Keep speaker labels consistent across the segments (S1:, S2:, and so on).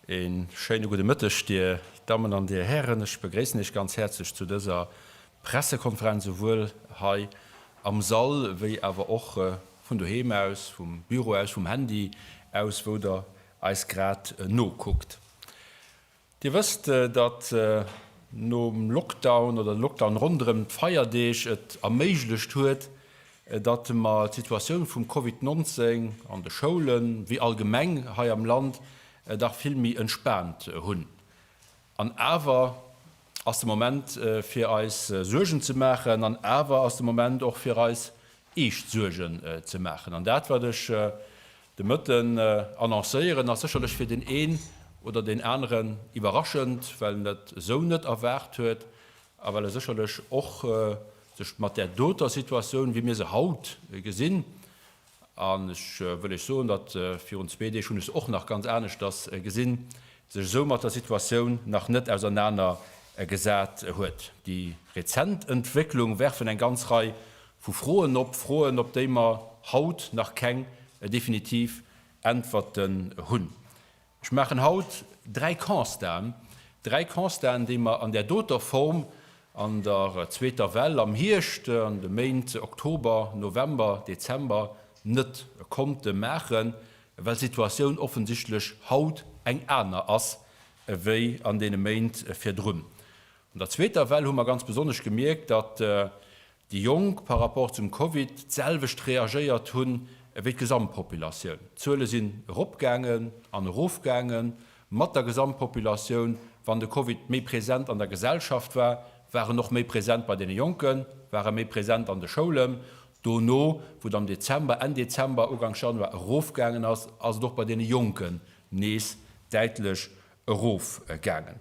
S1: Een schéine gudde Mëtteg, Dir Dammen an Dir Hären. Ech begréissen Iech ganz häerzlech zu dëser Pressekonferenz, souwuel hei am Sall wéi awer och vun doheem aus, vum Büro aus, vum Handy aus, wou Der eis grad nokuckt. Dir wësst, datt nom Lockdown oder de Lockdown ronderëm d'Feierdeeg et erméiglecht huet, datt mer d'Situatioun vum Covid 19 an de Schoulen, wéi allgemeng hei am Land, dach vill méi entspaant hunn. An awer ass de Moment fir eis Suergen ze maachen, an awer ass de Moment och fir eis eescht Suergen ze maachen. An dat wat ech de Mëtten annoncéieren, ass sécherlech fir deen een oder deen aneren iwwerraschend, well en dat esou net erwaart huet, a well e sécherlech och sech mat där doter Situatioun, wéi mir se haut gesinn, an ech wëll lech soen, datt virun zwee Deeg hunn ech se och nach ganz aneschters gesinn, sech esou mat der Situatioun nach net ausernaner gesat huet. Déi rezent Entwécklung werfen eng ganz Rei vu Froen op, Froen, op déi mer haut nach keng definitiv Äntwerten hunn. Ech maachen haut dräi Constaten, dräi Constaten, déi mer an där doter Form an der zweeter Well am Hierscht, an de Méint Oktober, November, Dezember net konnte maachen, well d'Situatioun offensichtlech haut eng aner ass ewéi an deene Méint virdrun. An der zweeter Well hu mer ganz besonnesch gemierkt, datt déi Jonk par rapport zum Covid d'selwecht reagéiert hunn ewéi d'Gesamtpopulatioun, d'Zuele sinn eropgaangen an erofgaange mat der Gesamtpopulatioun, wann de Covid méi present an der Gesellschaft war, war en och méi present bei deene Jonken, war e méi present an de Schoulen, dono wou et am Dezember, Enn Dezember, Uganks Januar erofgaangen ass, ass et och bei deene Jonken nees däitlech erofgaangen.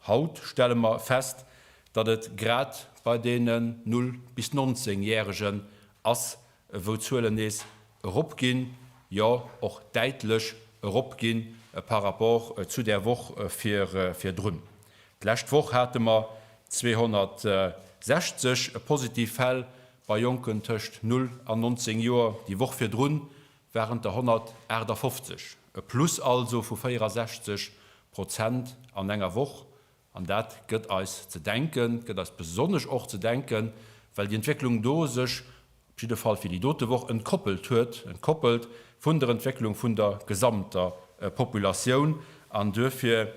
S1: Haut stelle mer fest, datt et grad bei deenen 0 bis 19 Järegen ass, wou d'Zuelen nees eropginn, jo och däitlech eropginn par rapport zu der Woch virdrun. D'lescht Woch hate mer 260 positiv Fäll bei Jonken tëscht 0 an 19 Joer, déi Woch virdrun waren et der 158, e Plus also vu 64 Prozent an enger Woch. An dat gëtt eis ze denken, gëtt eis besonnesch och ze denken, well déi Entwécklung do sech, op jidde Fall fir déi dote Woch, entkoppelt huet, entkoppelt vun der Entwécklung vun der gesamter Populatioun. An duerfir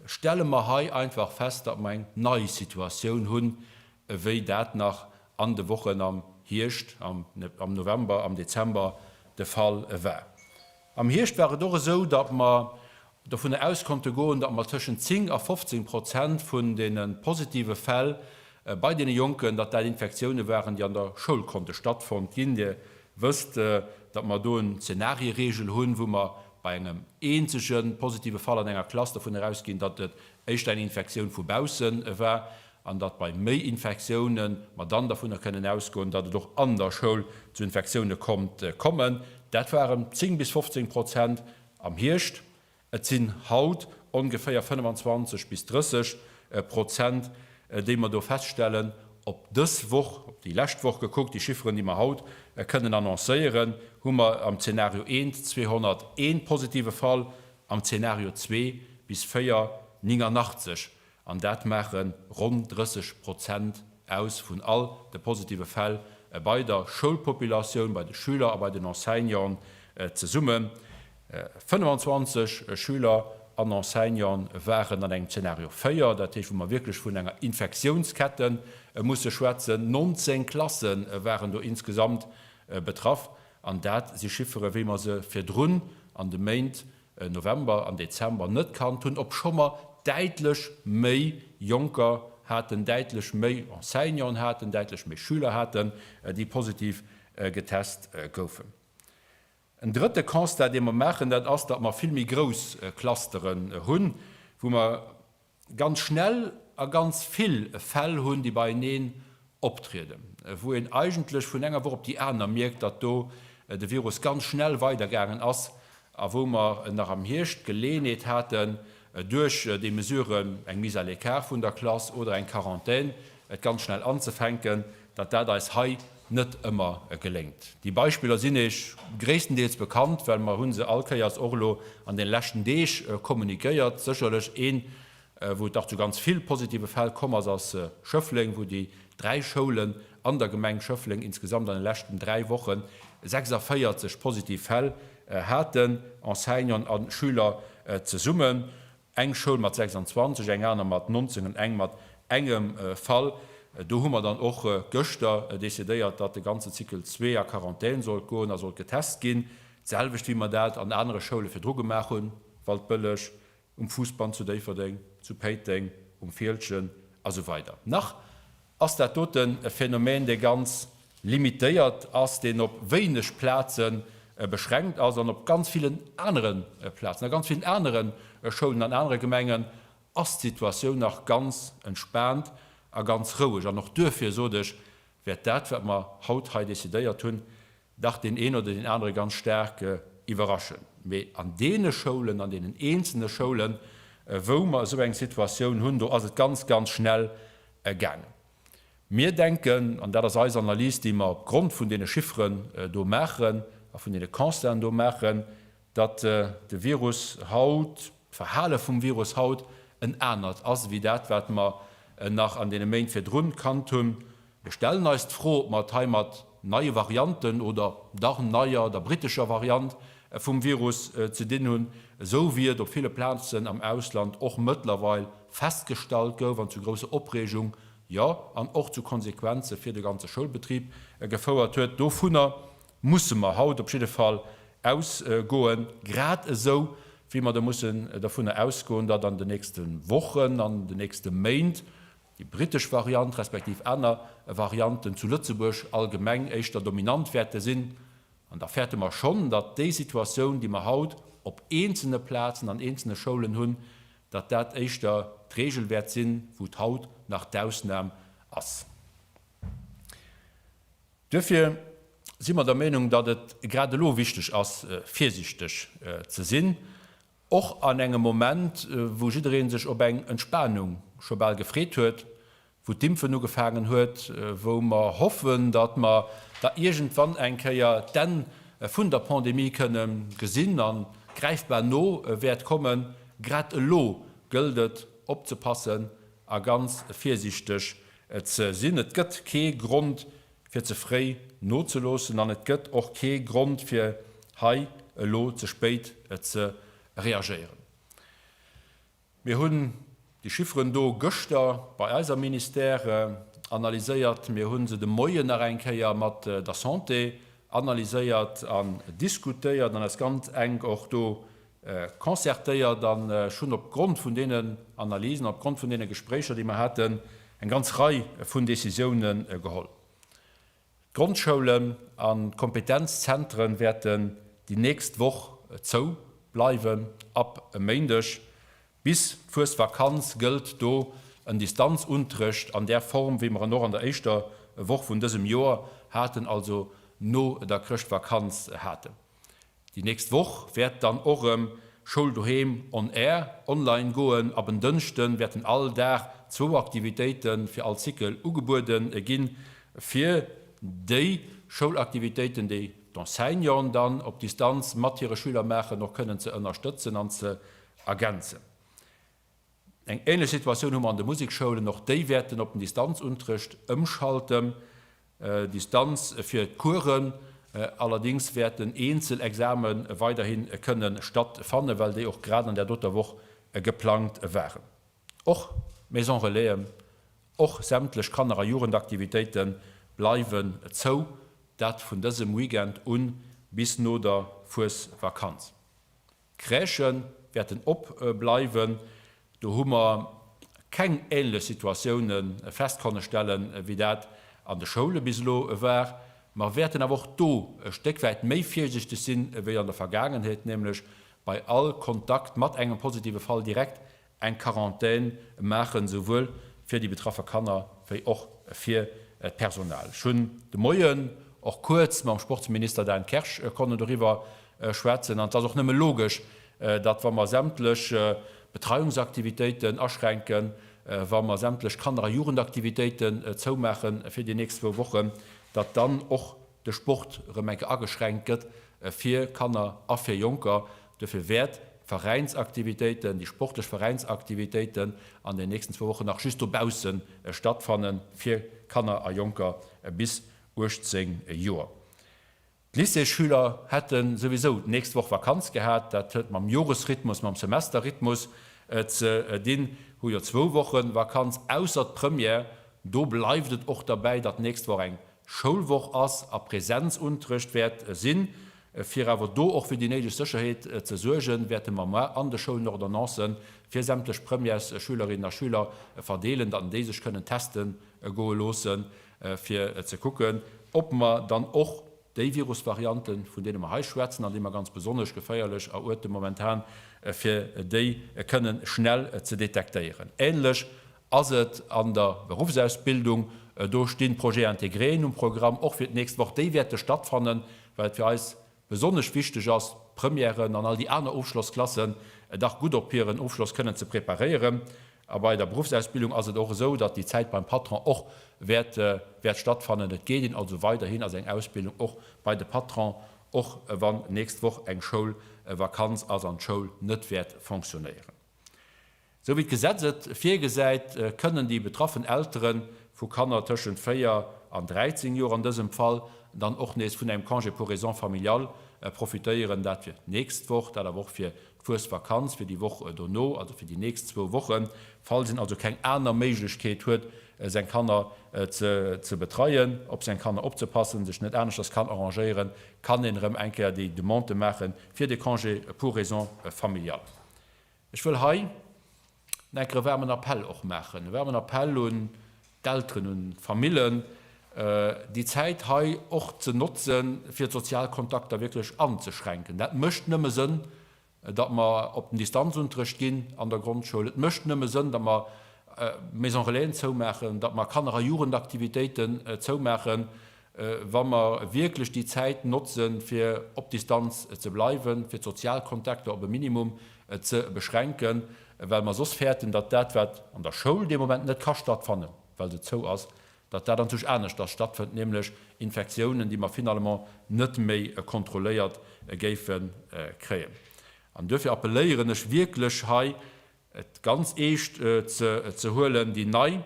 S1: stelle mer hei einfach fest, datt mer eng nei Situatioun hunn, ewéi dat nach an de Wochen am Hierscht, am November, am Dezember de Fall war. Am Hierscht war et och esou, datt mer dovunner aus konnte goen, datt mer tëschent 10 a 15 Prozent vun deene positive Fäll bei deene Jonken, datt dat Infektioune waren, déi an der Schoul konnte stattfonnt ginn. Dir wësst, datt mer do en Zenarie-Reegel hunn, wou mer bei engem eenzege positive Fall an enger Klass dovun erausginn, datt et éischter eng Infektioun vu baussen war, an datt bei méi Infektioune mer dann dovunner kënnen ausgoen, datt et och an der Schoul zu Infektioune konnt kommen. Dat waren 10 bis 15 Prozent am Hierscht. Et sinn haut ongeféier 25 bis 30 Prozent, déi mer do feststellen op dës Woch, op déi lescht Woch gekuckt. Déi Chifferen, déi mer haut kënnen annoncéieren, hu mer am Zeenario 1 201 positive Fall, am Zeenario 2 bis 4 89 An dat maache ronn 30 Prozent aus vun all de positive Fäll bei der Schoulpopulatioun, bei de Schüler a bei den Enseignanten zesumme. 25 Schüler an Enseignante waren an engem Zeenario 4, dat heescht wou mer wierklech vun enger Infektiounskette musse schwätzen. 19 Klasse waren do insgesamt betraff. An dat si Chiffere wéi mer se virdrun an de Méint November an Dezember net kannt hunn, obscho mer däitlech méi Jonker haten, däitlech méi Enseignanten haten, däitlech méi Schüler haten, déi positiv getest goufen. En drëtte Constat, dee mer maachen, dat ass, datt mer vill méi grouss Clusteren hunn, wou mer ganz schnell a ganz vill Fäll hunn, déi beieneen optrieden, wou een eigentlech vun enger Woch op déi aner mierkt, datt do de Virus ganz schnell weidergaangen ass a wou mer nach am Hierscht d'Geleeënheet haten, duerch déi Mesuren, eng Mise à l'écart vun der Klass oder eng Quarantän, et ganz schnell anzefänken. datt dat eis hei net ëmmer geléngt. Déi Beispiller sinn Iech gréisstendeels bekannt, well mer hu se all Kéiers och elo an de leschten Deeg kommuniquéiert. Sécherlech een, wou et dach zu ganz vill positive Fäll komm ass, ass Schëffleng, wou déi dräi Schoulen an der Gemeng Schëffleng insgesamt an de leschten dräi Wochen 46 positiv Fäll haten, Enseignant a Schüler zesummen. Eng Schoul mat 26, eng aner mat 19 an eng mat engem Fall. Do hu mer dann och gëschter decidéiert, datt de ganze Cycle 2 a Quarantän sollt goen a sollt getest ginn. D'selwecht wéi mer dat an anere Schoule virdru gemaach hunn, Waldbëlleg, um Fuussband zu Déifferdeng, zu Péiteng, um Fieldgen a sou weider nach. ass dat doten e Phänomen, dee ganz limitéiert ass, deen op wéineg Plaze beschränkt ass. An op ganz villen anere Plazen, a ganz villen anere Schoulen, an anere Gemengen ass d'Situatioun nach ganz entspaant a ganz roueg. An och duerfir, sot ech, wäert dat, wat mer haut hei decidéiert hunn, dach deen een oder deen anere ganz staark iwwerraschen. Mee an deene Schoulen, an deenen eenzelne Schoulen, wou mer esou eng Situatioun hunn, do ass et ganz, ganz schnell gaangen. Mir denken, an dat ass eis Analys, déi mer opgrond vun deene Chifferen do maachen a vun deene Constaten do maachen, datt de Virus haut, d'Verhale vum Virus haut en anert ass, wéi dat, wat mer nach an deene Méint virdrun kannt hunn. Mir stellen eis d'Fro, ob mer et hei mat neie Varianten oder dach neier, der brittescher Variant vum Virus ze dinn hunn, esou wéi et op ville Plazen am Ausland och mëttlerweil festgestallt gouf an zu grousser Opreegung, jo, an och zu Konsequenze fir de ganze Schoulbetrib gefouert huet. Dovunner musse mer haut op jidde Fall ausgoen, grad esou wéi mer mussen dovunner ausgoen, datt an den nächste Wochen, an den nächste Méint déi britesch Variant respektiv aner Varianten zu Lëtzebuerg allgemeng éischter dominant wäerte sinn, an da fäerte mer schonn, datt déi Situatioun, déi mer haut op eenzelne Plazen an eenzelne Schoulen hunn, datt dat éischter d'Regel wäert sinn, wou et haut nach d'Ausnam ass. Duerfir si mer der Meenung, datt et grad elo wichteg ass, virsiichteg ze sinn. Och an engem Moment, wou jiddereen sech op eng Entspanung scho bal gefreet huet, wou d'Impfen ugefaangen huet, wou mer hoffen, datt mer da iergendwann eng Kéier d'Enn vun der Pandemie kënne gesinn an gräifbar no wäert kommen, grad elo gëllt et opzepassen a ganz virsiichteg ze sinn. Et gëtt kee Grond fir ze fréi nozeloossen an et gëtt och kee Grond fir hei elo ze spéit ze reagéieren. Mir hunn déi Chifferen do gëschter bei eis am Ministère analyséiert, mir hu se de Moien nach eng Kéier mat der Santé analyséiert an diskutéiert an eis ganz enk och do concertéiert an ech hunn op Grond vun deenen Analysen, op Grond vun deene Gespréicher, déi mer haten, eng ganz Rei vun Décisioune geholl. D'Grondschoulen an d'Kompetenzzentren wäerten déi nächst Woch zou bleiwen, ab e Méindeg. Bis d'Fuesvakanz gëllt do en Distanzunterrecht an där Form, wéi mer en och an der éischter Woch vun dësem Joer haten, also no der Chrëschtvakanz haten. Déi nächst Woch wäert dann och rëm Schoul Doheem on Air, online, goen. Ab en Dënschden wäerten all Dag zwou Aktivitéite fir all Cycle ugebueden ginn, fir déi Schoulaktivitéiten, déi d'Enseignanten dann op Distanz mat hire Schüler maachen, och kënnen ze ënnerstëtzen an ze ergänzen. Eng ähnlech Situatioun hu mer an de Musikschoulen. Och déi wäerten op den Distanzunterrecht ëmschalten. Distanz fir d'Coursen, allerdéngs wäerten eenzel Exame weiderhi kënne stattfannen, well déi och grad an där doter Woch geplangt waren. Och d'Maison Relaisen, och sämtlech Kanner a Jugendaktivitéite bleiwen zou, dat vun dësem Weekend u bis no der Fuesvakanz. D'Crèchë wäerten op bleiwen. Do hu mer keng ähnlech Situatioune fest konne stellen, wéi dat an de Schoule bis elo war. Mer wäerten awer och do e Stéck wäit méi virsichteg sinn, wéi an der Vergaangenheet, nämlech bei all Kontakt mat engem positive Fall direkt eng Quarantaine maachen, esouwuel fir déi betraffe Kanner wéi och fir d'Personal. Ech hunn de Moien och kuerz mam Sportsminister Dan Kersch konne doriwwer schwätzen an et ass och nëmme logesch, datt wa mer sämtlech Betreiungsaktivitéiten aschränken, wa mer sämtlech Kanner a Jugendaktivitéiten zoumaache fir déi nächst zwou Wochen, datt dann och. de Sport erëm eng Kéier ageschränkt gëtt fir Kanner a fir Jonker. Dofir wäert d'Veräinsaktivitéiten, déi sportlech Veräinsaktivitéiten an den nächsten zwou Wochen nach just dobausse stattfannen, fir Kanner a Jonker bis 18 Joer. D'Lycéesschüler hätte souwisou d'nächst Woch Vakanz gehat. Dat huet mam Joresrhythmus, mam Semesterrhythmus ze dinn. Hu jo zwou Woche Vakanz, ausser d'Première. Do bleift et och derbäi, datt d'nächst Woch eng Schoulwoch ass a Präsenzunterrecht wäert sinn. Fir awer do och fir déi néideg Sécherheet ze suergen, wäerte mer mar an de Schoulen Ordonnance fir sämtlech Premièresschülerinnen a schüler verdeelen, datt déi sech kënnen teste goe loosse fir ze kucken, ob mer dann och déi Virusvarianten, vun deene mer hei schwätzen an déi mer ganz besonnesch geféierlech eruerte momentan, fir déi kënnen schnell ze detektéieren. Ähnlech Ass et an der Beruffsausbildung? Do stinn d'Projets intégrés um Programm, och fir d'nächst Woch. Déi wäerte stattfannen, well et fir eis besonnesch wichteg ass, d'Premièren an all déi aner Ofschlossklassen dach gutt op hiren Ofschloss kënnen ze preparéieren. A bei der Beruffsausbildung ass et och esou, datt déi Zäit beim Patron och wäert, wäert stattfannen. Et geet een also weiderhin a seng Ausbildung och bei de Patron, och wann nächst Woch eng Schoulvakanz ass an d'Schoul net wäert fonctionnéieren. Sou wéi d'Gesetz et virgesäit, kënnen déi betraffen Eltere vu Kanner tëschent 4 an 13 Joer an dësem Fall dann och nees vun engem Congé pour raisons familiales profitéieren. Dat fir d'nächst Woch, dat awer och fir d'Fuesvakanz, fir déi Woch dono, also fir déi nächst zwou Wochen, falls een also keng aner Méiglechkeet huet, seng Kanner ze betreien, op seng Kanner opzepassen, sech net aneschters kann arrangéieren, kann een erëm eng Kéier déi Demande maache fir de Congé pour raisons familiales. Ech wëll hei nach enker e waarmen Appell och maachen, e waarmen Appell un d'Elteren, un d'Famillen, déi Zäit hei och ze notze fir d'sozial Kontakter wierklech anzeschränken. Dat mécht nëmme Sënn, datt mer op den Distanzunterrecht ginn an der Grondschoul. Et mécht nëmme Sënn, datt mer Maison-relaisen zoumaachen, datt mer Kanner a Jugendaktivitéiten zoumaachen. wa mer wierklech déi Zäit notzen, fir op Distanz ze bleiwen, fir d'Sozialkontakter op e Minimum ze beschränken, well mer soss fäerten, datt dat, wat an der Schoul dee Moment net ka stattfannen, well se zou ass, datt dat an Zuch aneschters stattfënnt, nämlech Infektiounen, déi mer finalement net méi kontrolléiert géife kréien. An duerfir appelléieren ech wierklech hei, et ganz eescht ze huelen, déi nei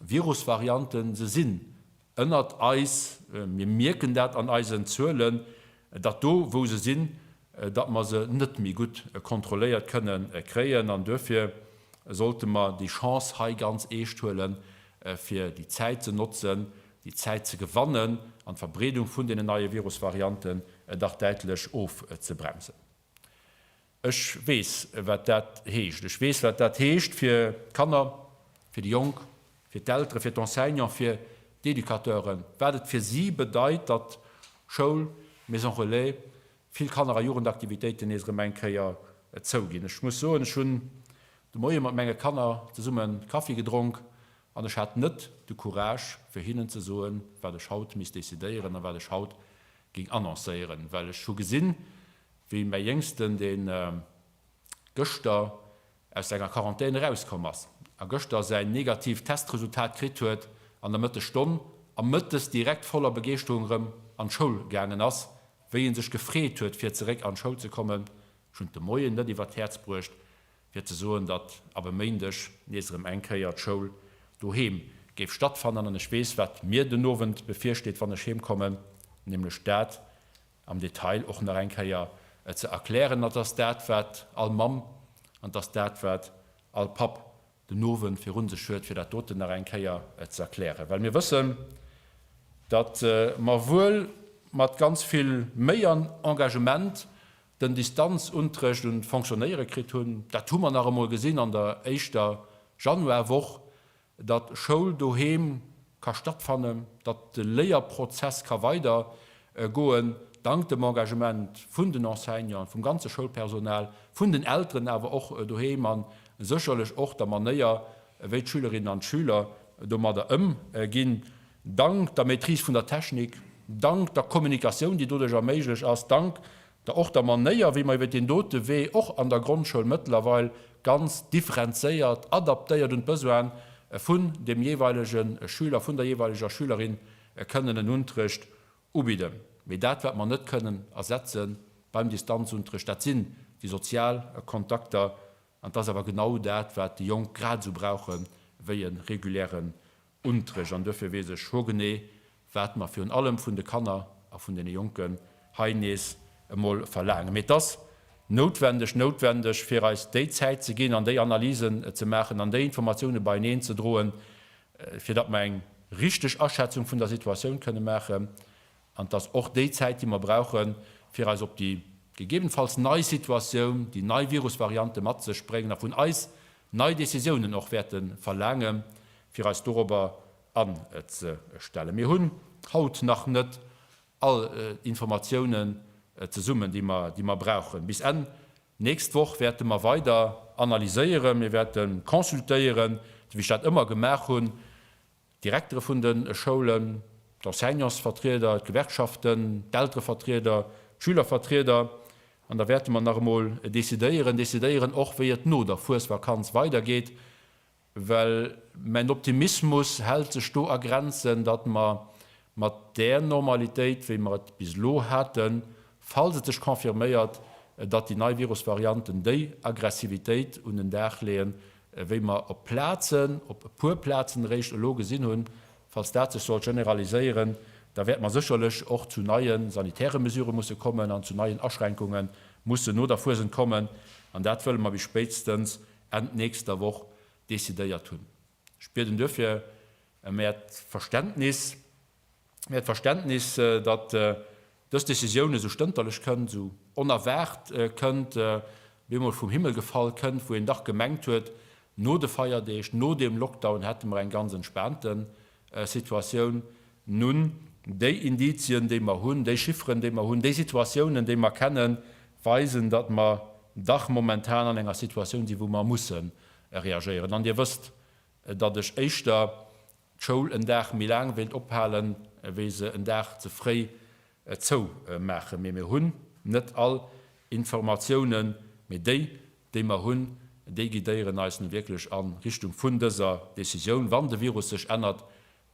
S1: Virusvarianten, se sinn Ënnert eis, mir mierken dat an eisen Zuelen, datt do wou se sinn, datt mer se net méi gutt kontrolléiert kënne kréien an duerfir sollte mer déi Chance hei ganz eescht huelen, fir déi Zäit ze notzen, déi Zäit ze gewannen an d'Verbreedung vun deenen neie Virusvarianten dach däitlech ofzebremsen. Ech weess, wat dat heescht. Ech weess, wat dat heescht fir d'Kanner, fir déi Jonk, fir d'Elteren, fir d'Enseignanten, fir d'Educateuren, wat et fir si bedeit, datt Schoul, Maison Relais, vill Kanner a Jugendaktivitéiten nees erëm eng Kéier zouginn. Ech muss soen, ech hunn de Moie mat menge Kanner zesummen Kaffi gedronk An ech hat net de Courage, fir hinnen ze soen, wat ech haut misst decidéieren a wat ech haut géing annoncéieren, well ech hu gesinn, wéi mäi Jéngsten, dee gëschter aus senger Quarantän erauskomm ass a gëschter säin negatiivt Testresultat kritt huet, an der Mëttesstonn a mëttes direkt voller Begeeschterung erëm an d'Schoul gaangen ass, wéi e sech gefreet huet, fir zeréck an d'Schoul ze kommen. Ech hunn et de Moien net iwwer d'Häerz bruecht, fir ze soen, datt ab e Méindeg nees erëm eng Kéier d'Schoul doheem géif stattfannen. An ech weess, wat mir den Owend bevirsteet, wann ech heemkommen, nämlech dat am Detail och nach eng Kéier ze erklären. An et ass dat, wat all Mamm an et ass dat, wat all Papp den Owend virun sech huet, fir dat doten nach eng Kéier ze erklären, well mir wëssen, datt mer wuel mat ganz vill Méi an Engagement den Distanzuntrëcht un d'Fonctionnéiere kritt hunn. Dat hu mer nach emol gesinn an der éischter Januarwoch, datt Schoul doheem ka stattfannen, datt de Léierprozess ka weider goen, dank dem Engagement vun den Enseignanten, vum ganze Schoulpersonal, vun den Elteren awer och doheem a sécherlech och der Manéier, wéi d'Schülerinnen an d'Schüler domadder ëmginn. Dank der Maîtrise vun der Technik, dank der Kommunikatioun, déi doduerch erméiglech ass, dank der och der Manéier, wéi mer iwwert deen dote Wee och an der Grondschoul mëttlerweil ganz differenzéiert, adaptéiert un d'Besoine vun dem jeeweilege Schüler, vun der jeeweileger Schülerin kënnen en Unterrecht ubidden. Mee dat, wat mer net kënnen ersetze beim Distanzunterrecht, dat sinn déi sozial Kontakter. An et ass awer genau dat, wat déi Jonk grad esou brauche wéi e regulären Unträg an duerfir weess ech hogenee, wat mer virun allem vun de Kanner a vun deene Jonken hei nees emol verlaangen. Mee et ass noutwendeg, noutwendeg, fir eis déi Zäit ze ginn an déi Analysen ze maachen an déi Informatiounen beieneen ze droen, fir datt mer eng richtig Aschätzung vun der Situatioun kënnen maachen. An dass och déi Zäit, déi mer brauchen, fir eis op déi gegebenfalls nei Situatioun, déi nei Virusvariante mat sech bréngen a vun eis nei Décisiounen och wäerte verlaangen, fir eis dorobber anzestellen. Mir hunn haut nach net all Informatiounen zesummen, déi mer brauchen. Bis Enn nächst Woch wäerte mer weider analyséieren. Mir wäerte consultéieren, wéi ech dat ëmmer gemaach hunn, D'Direktere vun de Schoulen, d'Enseignantsvertrieder, d'Gewerkschaften, d'Elterevertrieder, d'Schülervertrieder, an da wäerte mer nach emol decidéieren, decidéieren och, wéi et no der Fuesvakanz weidergeet, well mäin Optimismus hält sech do a Grenzen, datt mer mat där Normalitéit, wéi mer et bis elo haten, falls et sech confirméiert, datt déi nei Virusvarianten déi Aggressivitéit un den Dag leeën, wéi mer op Plazen, op e puer Plazen eréischt elo gesinn hunn, falls dat sech sollt generaliséieren, da wäerte mer sécherlech och zu neie sanitäre Mesurë musse kommen an zu neien Aschränkunge mussen no der Fuesent kommen. An dat wëlle mer bis spéitstens Enn nächster Woch decidéiert hunn. Spiert en duerfir ëm Äert Verständnis, Äert Verständnis, datt dës Decisioun esou stënterlech kënnt, esou onerwaart kënnt, op eemol vum Himmel gefall kënnt, wou een dach gemengt huet, no de Feierdeeg, no deem Lockdown hätte mer eng ganz entspaante Situatioun. Nun, déi Indizien, déi mer hunn, déi Chifferen, déi mer hunn, déi Situatiounen, déi mer kennen, weisen, datt mer dach momentan an enger Situatioun sinn, wou mer mussen Reagéieren. An Dir wësst, datt ech éischter d'Schoul en Dag méi laang wéilt ophalen, wéi se en Dag ze fréi zoumaachen. Mee mir hunn net all Informatiounen. Mee déi, déi mer hunn, déi guidéieren eis nu wierklech a Richtung vun dëser Decisioun. Wann de Virus sech ännert,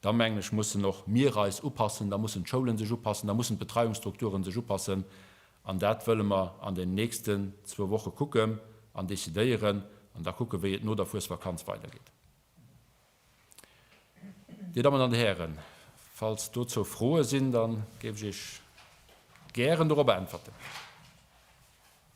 S1: Da mengen ech, mussen och mir eis upassen, da mussen d'Schoulen sech upassen, da mussen d'Betreiungsstrukturen sech upassen. An dat wëlle mer an den nächsten zwou Woche kucken an decidéieren an da kucken, wéi et no der Fuesvakanz weidergeet. Dir Dammen an Dir Hären, falls dozou Froe sinn, da géif ech Iech gären dorop äntwerten.